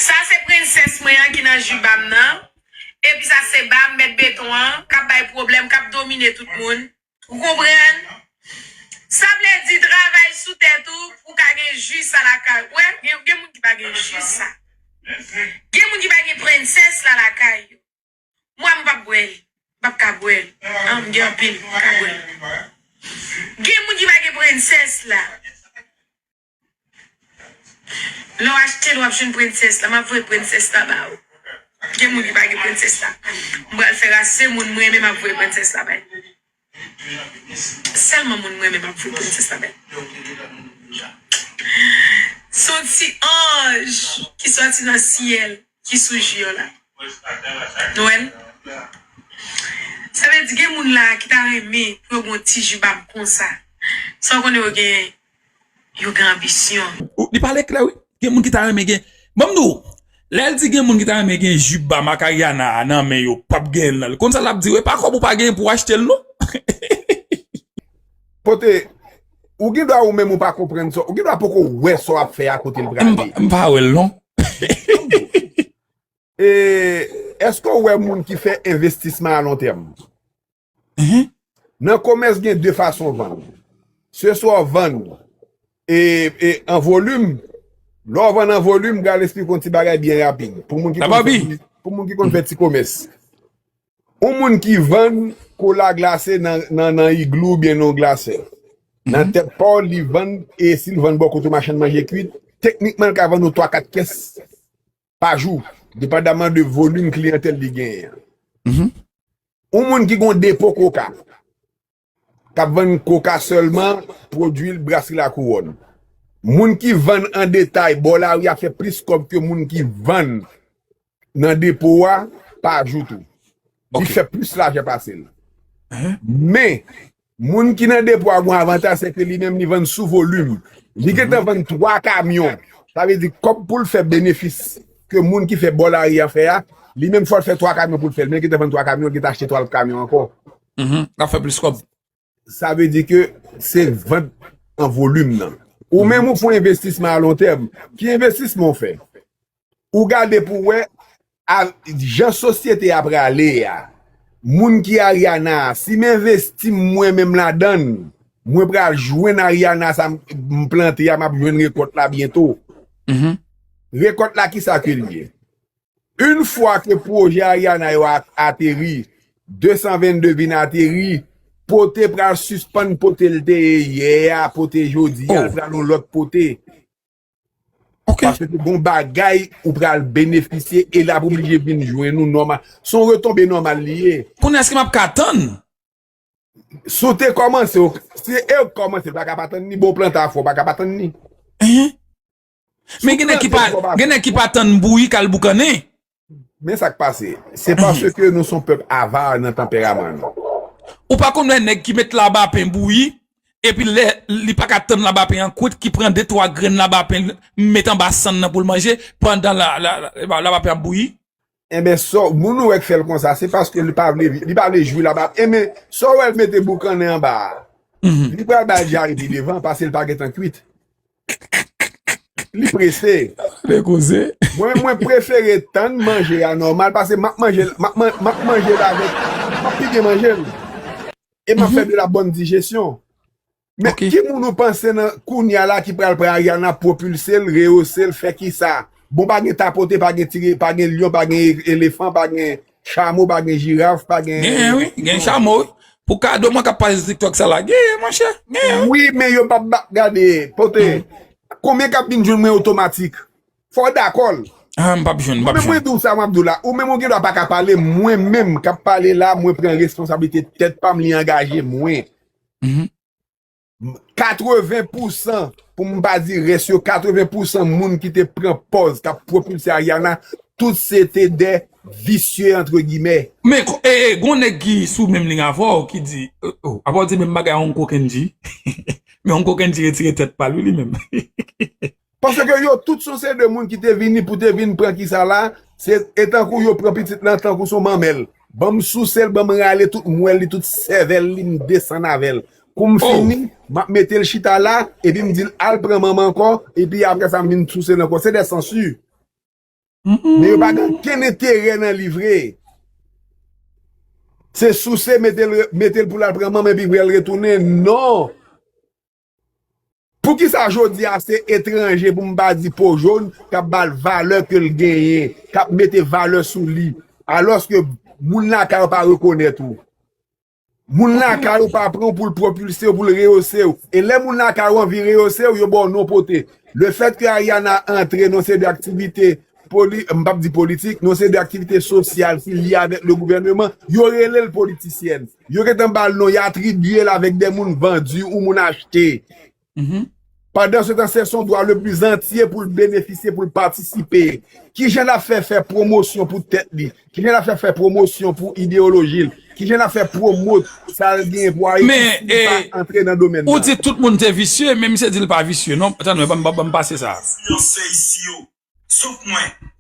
Sa se princess mwen an ki nan jubam nan epi sa se bam mèt beton an kap bay pwoblèm kap domine tout moun ou konprann sa vle di travay sou tèt ou pou ka gen ju sa lakay ou wè gen moun ki pa gen ju sa gen moun ki pa gen princess la lakay yo mwa m pap bwè li m pap ka bwè li an m gen anpil m paka bwè li gen moun ki pa gen princess la. Lè w achte l wap jwenn princess la map voye princess la ba ou gen moun ki pa gen princess la m pral fè rase moun m renmen map voye princess la bay selman moun m renmen map voye princess la bay son ti anj ki soti nan syèl ki sou ji an la nou wè l sa vle di gen moun la ki ta renmen pou yo gen yon ti ji bab konsa san konnen yo gen yo gen anbisyon. Li pale klè wi gen moun ki ta renmen gen banm di w lèl di gen moun ki ta renmen gen jup ba marc Ariana a nan men yo pap genyen nan konn sa lap di yo epa kob ou pa genyen pou achtel non Kote Ou gen dwa ou menm ou pa konprann sa ou gen dwa poko wè sa wap fè a kotel prale. M pa wèl non. Eske ou wè moun ki fè envestisman alontèm? Nan komès gen 2 fason vann. Se swa w vann an volim, lè w vann an volim, m pral esplike w yon ti bagay byen rapid pou moun ki konn fè ti komès. Yon moun ki vann kola glase nan igloo oubyen nan yon glasè, nan tèt pa w li vann e si l vann bò kote machann manje kwit, teknikman l ka vann ou 3, 4 kès pa jou, depandaman de volim kliyantèl li genyen an. Yon moun ki gen yon depo koka, k ap vann koka sèlman, pwodui l Brasri Lakouwòn. Moun ki vann an detay bò lari a fè plis kòb ke moun ki vann nan depo a pa jou tou. Li fè plis lajan pase l. Men, Moun ki nan depo a gon avantaj se ke li menm li vann sou volim. Li gentan vann 3 kamyon. Sa vle di kòb pou l fè benefis ke moun ki fè bò lari a fè a, li menm fò l fè 3 kamyon pou l fè l. Men li gentan vann 3 kamyon, li gentan achte 3 lòt kamyon ankò. L ap fè plis kòb. Sa vle di ke se vant an volim nan. Ou menm ou fon envestisman alontèm. Ki envestisman ou fè? Ou gade pou wè jan sosyete a prale a. Moun ki Ariana, si m envesti m mwen menm ladan, mwen pral jwenn Ariana sa m plante a, m ap jwenn rekòt la byento. Rekòt la ki sa ke l ye? Yn fwa ke pwojè Ariana yo ateri, 222 vin ateri, pote pral sispann pote l te ye yè a, pote jodi a, l pral yon lòt pote. Ok. Paske se bon bagay ou pral benefisye e l ap oblije vin jwenn ou nòmal. Se yon retonbe nòmal li ye. Kounye a èske m ap ka tann? Si w te kòmanse, si e ou k kòmanse, ou pa ka pa tann ni. Bon w plante afè ou pa ka pa tann ni. Ehe. Men gen nèg ki pa tann bouyi k al boukannen. Men sa k pase, se paske nou son pèp ava nan tanperaman nou. Ou pa konn wè nèg ki met labapen bouyi, epi lè li pa ka tann labapen an kwit ki pran de twa grenn labapen l met anba sann nan pou l manje pandan labapen ap bouyi? Enben, sa w, moun ou wè k fè l konsa, se paske li pa vle, li pa vle jwi labapen. Enben, sa w wè l mete boukannen anba a, li pral ba l dyare pi devan, pase l pa gen tan kwit. Li prese. Gade koze. Mwen mwen prefere tann manje a nòmal pase map manjel map map manjel avèk map pi byen manjel e map fè de la bòn dijesyon men ki moun ou panse nan kounya la ki pral pran Ariana pwopilsel reyosel fè kisa bon pa gen tapote pa gen tire pa gen lyon pa gen elefan pa gen Chamo pa gen jiraf pa gen. Genyen wi gen chamo wi. Pou kado mwen kap pale sou tiktok sa la genyen monchè genyen wi. Wi men yo pap ba gade pote konbyen kap vin jwenn mwen otomatik fòw dakòl. Aah mpap jwenn mpap jwenn. Mwen diw sa map diw la ou menm ou gendwa paka pale mwen menm kap pale la mwen pran responsablite tèt pam li angaje mwen. 80 pousan, pou m pa di rès yo, 80 pousan moun ki te pran pòz k ap pwopilse Ariana, tout se te de visye antre gimè. Men, e, e, gon nèg ki sou menm liy avè w ki di, e, o, apa w di menm bagay a Ongko Kendji? Men Ongko Kendji retire tèt pa l wi li menm. Paske yo tout son se de moun ki te vini pou te vin pran kisa la, se e tankou yo pran pitit lan tankou son manmèl. Banm sousel banm rale tout mwèl li tout sèvèl li m desann avèl koum fini map metel chita la epim dil al pran manman ankò epi apresa m vin sousel ankò se de sansu men yo pa gen ken enterè nan li vre se souse metel metel poul al pran manman epi pou al retounen non. Poukisa jodi a se etranje pou m pa di po jón k ap ba l valè ke l genyen, k ap mete valè sou li, alòske moun lakay ou pa rekonèt ou? Moun lakay ou pa pran w pou l pwopilse w, pou l reyose w. E lè moun lakay ou anvi reyose w, yo ba w non pote. Le fèt ke Ariana antre nan seri de aktivite, m p ap di politik, nan seri de aktivite sosyal ki lye avèk le gouvèneman, yo rele l politisyèn. Yo gentan ba l non, y atribye l avèk de moun vandu ou moun achte. Pandansetan, se son dwa lepli zantye pou l benefisye, pou l patisipe. Ki jan l ap fè fè pwomosyon pou tèt li? Ki jan l ap fè fè pwomosyon pou ideyoloji l? Ki jan l ap fè pwomot sa l genyen pou Ayiti si li pa antre nan domèn nan? Men, e, ou di tout moun te visye, men misye di l pa visye non. Tann mwen, ban m pase sa a. Enfliyansè isi yo, sof mwen,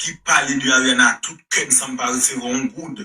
ki pale de Ariana ak tout kè m san m pa resevwa yon goud.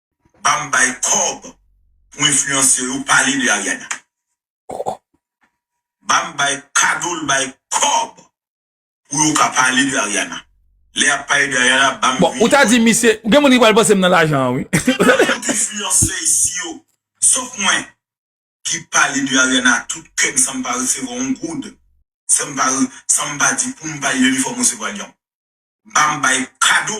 banm bay kòb pou influencer yo pale de Ariana banm bay kadol bay kòb pou yo ka pale de Ariana lè yap pale de Ariana banm vini bon ou ta di misye gen moun ki pral panse m nan lajan an wi tout influencer isi yo sof mwen ki pale de Ariana ak tout kèm sanm pa resevwa yon goud sanm pa sanm pa di poum pale de li fòm resevwa li banm bay kado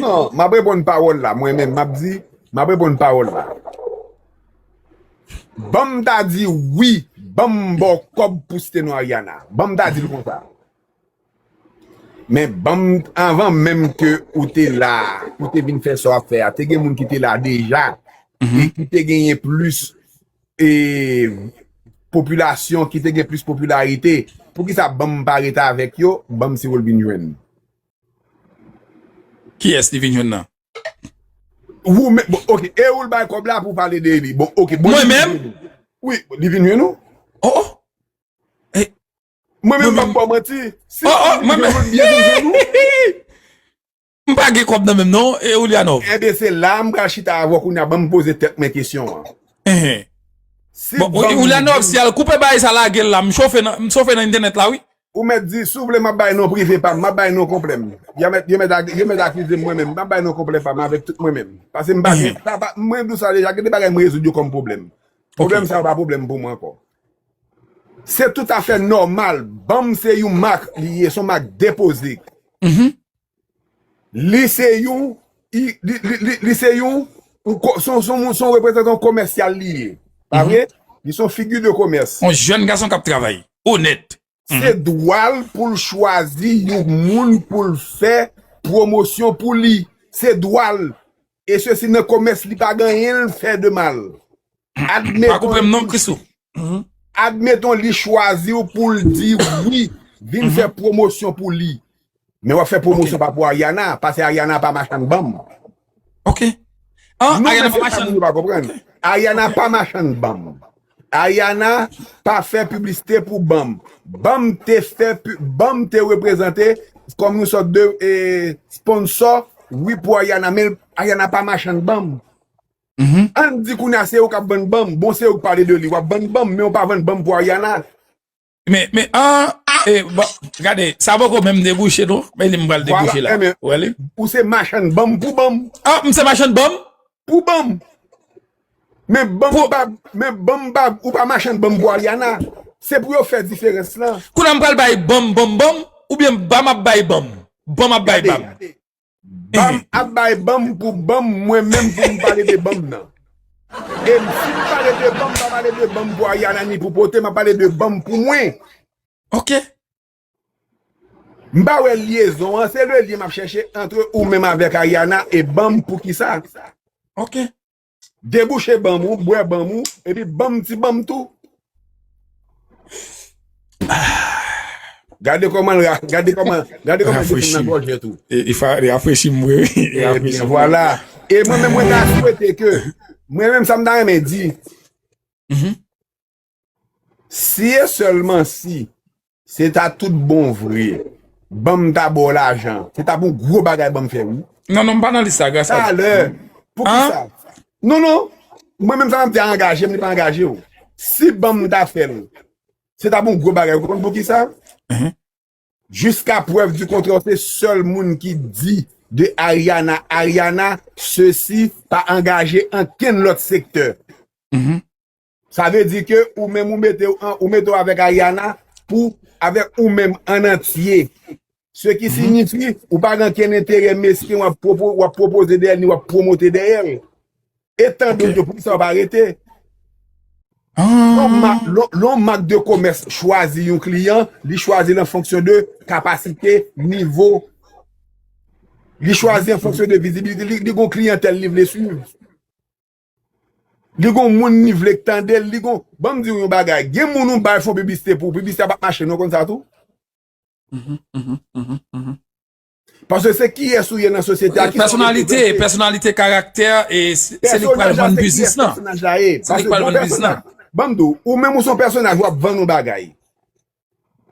Non, m ap reponn pawòl la mwen menm, m ap di, m ap reponn pawòl la. Ban m ta di wi, ban m ba w kòb pou site nou Ariana. Ban m ta di l konsa. Men ban m, anvan menm ke ou te la, ou te vin fè sa w ap fè a, te gen moun ki te la deja, e ki te genyen plis e popilasyon, ki te gen plis popilarite, poukisa ban m pa rete avèk yo, ban m si w ol vin jwenn. Kiyès li vin jwenn nan? Wou menm, bon ok, e ou l bay kòb la pou w pale de li? Bon ok, bon li vin jwenn ou? Mwen menm? Wi, li vin jwenn ou? Oh oh! Mwen menm m p ap ba w manti, si ou vin jwenn ou, li byen vin jwenn ou? Hihihi! M pa gen kòb nan menm non, e Oulianov? Enben se la a m pral chita avè w kounye a, ban m poze tèt mwen kesyon an. Enhen! Bon, Oulianov, si al koupe baay sa lage l la, m chofe nan entènèt la wi. Ou mèt di, si w vle m ap bay non prive pa m, m ap bay non konplè m. Y a mèt, yo mèt ak, yo mèt akize m mwen menm, m ap bay non konplè pa m avèk tout mwen menm. Pase m pa gen, sa pa, mwen di w sa deja, gen de bagay m rezoud yo kòm pwoblèm. Pwoblèm sa yo pa pwoblèm pou mwen ankò. Se tout afè nòmal, ban m se yon mak li ye, se yon mak depoze. Li se yon li se yon son reprezantan komèsyal li ye. Pa vre? Li son figi de komès. Yon jèn gason k ap travay, onèt. Se dwa l pou l chwazi yon moun pou l fè pwomosyon pou li. Se dwa l. E sesi nan komès li pa gen anyen l fè de mal. Pa koupe m non Christoo. Admeton li chwazi w pou l di wi, vin fè pwomosyon pou li. Men w ap fè pwomosyon pa pou Ariana, pase Ariana pa machann banm. Ok. An, Ariana pa machann. Non men se sa moun yo pa konprann. Ariana pa machann banm. Ariana pa fè piblisite pou banm. Banm te fè, banm te reprezante kòm yon sòt de sponsò wi pou Ariana men Ariana pa machann banm. Ann di kounya se ou kap vann banm, bon se ou k pale de li wap vann banm men ou pa vann banm pou Ariana. Men men aah e bon gade sa poko menm debouche non men li m pral debouche la ou wè li. Ou se machann banm pou banm. Ah m se machann banm? Pou banm. Men banm pa men banm pa ou pa machann banm pou Ariana. Se pou yo fè diferans lan. Kounya m pral bay banm banm banm oubyen banm ap bay banm? Banm ap bay banm. Banm ap bay banm pou banm mwen menm pou m pale de banm nan. E m si m pale de banm m pa pale de banm pou Ariana ni pou Pote m ap pale de banm pou mwen. Ok. M pa wè lyezon an, se le lyen m ap chèche antre ou menm avèk Ariana e banm pou kisa. Ok. Debouche banm ou bwè banm ou epi banm ti banm tou Gade koman l ra gade koman gade koman li vin nan gòjèt ou Li rafrechi m vre wi Ebyen vwala E mwen menm mwen ta swete ke mwen menm sa m ta renmen di Si e sèlman si se ta tout bon vre banm ta ba w lajan. Se ta pou yon gwo bagay banm fè wi. Non non m pa nan lis sa gras pa Bondye. Talè poukisa? Non non mwen menm sa map di a angaje m li pa angaje w. Si banm ta fè l se ta pou yon gwo bagay ou konn poukisa? Jiska prèv di kontrè w se sèl moun ki di de Ariana Ariana sesi pa angaje ankenn lòt sektè. Sa vle di ke ou menm ou mete w an, ou mete w avèk Ariana pou avèk ou menm an antye. Se ki signifi ou pa gen ankenn enterè mesken w ap pwopoze dèyè l ni w ap pwomote dèyè l. Etan don ke poukisa w pa rete? Lè yon mak de komès chwazi yon kliyan, li chwazi l an fonksyon de kapasite, nivo. Li chwazi an fonksyon de vizibilite li. Li gen yon kliyantèl li vle swiv. Li gon moun li vle k tandel li gon banm diw yon bagay gen moun ou bay fon piblisite pou piblisite a pap mache non konn sa tou paske se kiyes ou ye nan sosyete a kisa wap reprezante pèsonalite karaktè se li k pral vann biznis lan se li k pral vann biznis lan banm diw ou menm ou son pèsonaj wap vann yon bagay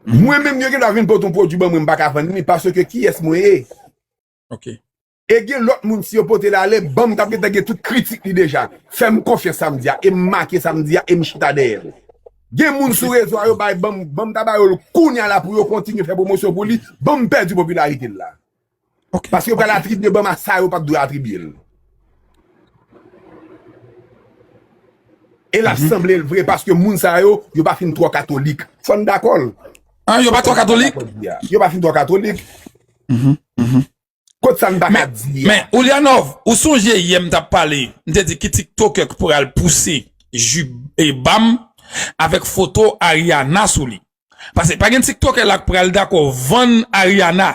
mwen menm yo gen dwa vin pot yon pwodwi banm mwen m paka vann li paske kiyes mwen ye ok. E gen lòt moun si yo pote l ale banm tap gentan gen tout kritik li deja. Fèm konfyans sa m di a e m make sa m di a e m chita dèyè l. Gen moun sou rezo a yo bay banm banm ta ba yo l kounya la pou yo kontinye fè pwomosyon pou li banm pèdi popilarite l la. Paske yo pral atribye banm a sa yo pat dwe atribye l. E lap sanble l vre paske moun sa yo yo pa fin twò katolik. Fò n dakò l. An yo pa twò katolik? Yo pa fin twò katolik. Kot sa n pa ka di a? Men, Oulianov, ou sonje yè m t ap pale, m te di ki tiktokè k pral pouse ju ba m avèk foto Ariana sou li? Pase pa gen tiktokè la k pral dakò vann Ariana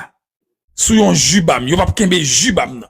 sou yon ju ba m. Yo p ap kenbe ju ba m nan.